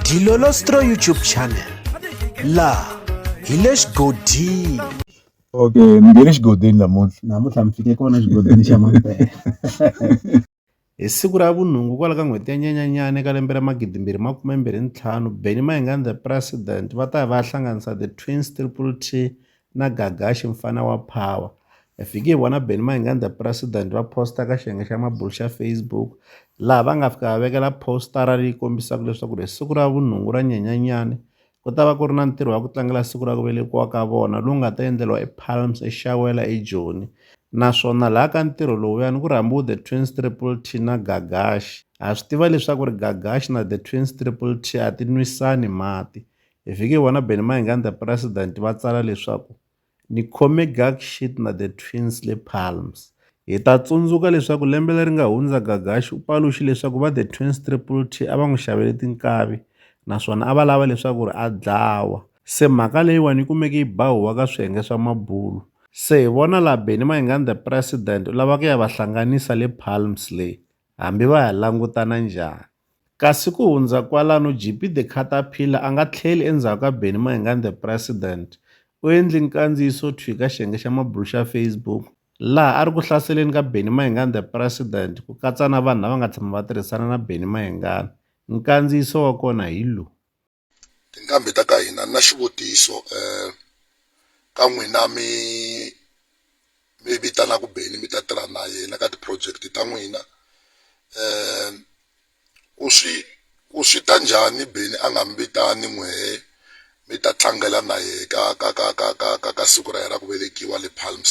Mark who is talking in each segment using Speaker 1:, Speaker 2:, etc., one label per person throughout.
Speaker 1: Dilolostro YouTube channel laha hi le xigodini okay
Speaker 2: ni nge le xigodini namuntlha namuntlha mi fike
Speaker 3: kona xigodini xa mampela
Speaker 4: hi siku ra vunhungu kwala ka n'hweti ya nyanyanyana eka lembe ra magidimbirhi makume mbirhi ntlhanu benny mayengani the president va ta ya va ya hlanganisa the twins triple t na Gagashi mfana wa Power. Hi fike hi vona Benny Mayenganda president va posta ka xiyenge xa mabulo xa Facebook laha va nga fika va vekela postara leyi kombisaka leswaku ri siku ra vunhungu ra nyenyanyani ku ta va ku ri na ntirho wa ku tlangela siku ra ku velekiwa ka vona lowu nga ta endleriwa ePalms eXawela eJoni naswona laha ka ntirho lowuyani ku rhambiwe the twins triple t na gagashi ha swi tiva leswaku ri gagashi na the twins triple t a ti nwisani mati Hi fike hi vona Benny Mayenganda president va tsala leswaku ni khome Gag Sheet na The Twins le Palms. Hi ta tsundzuka leswaku lembe leri nga hundza Gagashi u paluxe leswaku va The Twins Triple T a va n'wi xavele tinkavi naswona a va lava leswaku ri a dlawa. Se mhaka leyiwani yi kumeke yi ba huwa ka swiyenge swa mabulu. Se hi vona laha Benny Mayenganda president u lava ku ya va hlanganisa le Palms le hambi va ha langutana njhani. Kasi ku hundza kwalano, JP the Caterpillar a nga tlheli endzhaku ka Bennie Mayengani the President. U endle nkandziyiso thwi eka xiyenge xa mabulu xa Facebook laha a ri ku hlaseleni ka Bennie Mayengani the President ku katsa na vanhu lava nga tshama va tirhisana na Bennie Mayengani. Nkandziyiso wa kona hi lowu. tinqambi
Speaker 5: ta ka hina na xivutiso um ka n'wina mi mi vitanaku beni mi ta tirha na yena ka ti-project ta n'wina um ku swi ku swi ta njhani beni a nga mi vitani n'wehe mi ta tlangela na yehe ka ka ka ka ka ka ka siku ra yena ra ku velekiwa le palms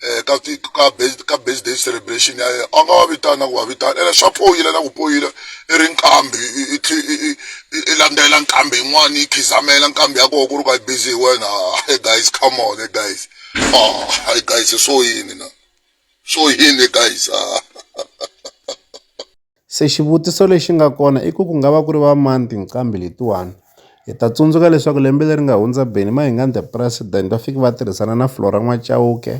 Speaker 5: eh, ka ka base ka base day celebration ya yena a nga wa vitana ku wa vitana ene swa poyile na ku poyile i ri nkambi i landzela nkambi yin'wana yi khizamela nkambi ya koho ku ri ka busy hi wena hey guys come on hey guys oh hey guys so yini na so yini guys ah
Speaker 4: Se xivutiso lexi nga kona i ku ku nga va ku ri va mani tinqambi letiwani hi ta tsundzuka leswaku lembe leri nga hundza Benny Mayengani the president va fike va tirhisana na Flora N'wachauke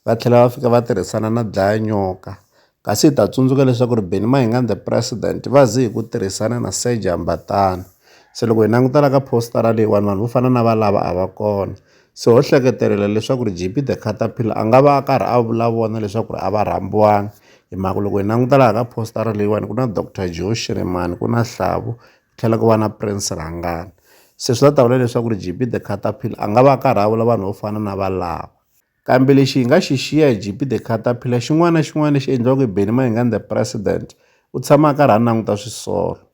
Speaker 4: va tlhela va fika va tirhisana na Dlaya Nyoka kasi hi ta tsundzuka leswaku ri Benny Mayengani the president va ze hi ku tirhisana na Serge Hambatana se loko hi languta la ka poster leyiwani vanhu vo fana na valava a va kona. Se ho hleketelela leswaku ri JP the Caterpillar a nga va a karhi a vula vona leswaku ri a va rhambiwanga hi mhaka loko hi languta laha ka postara leyiwani ku na Doctor Joe Shirimani ku na Hlavu ku tlhela ku va na Prince Rhangana se swi ta ta vula leswaku ri JP the Caterpillar a nga va a karhi a vula vanhu vo fana na valava kambe lexi hi nga xi xiya hi JP the Caterpillar xin'wana na xin'wana lexi endliwaka hi Benny Mayengani the President u tshama a karhi a languta swisolo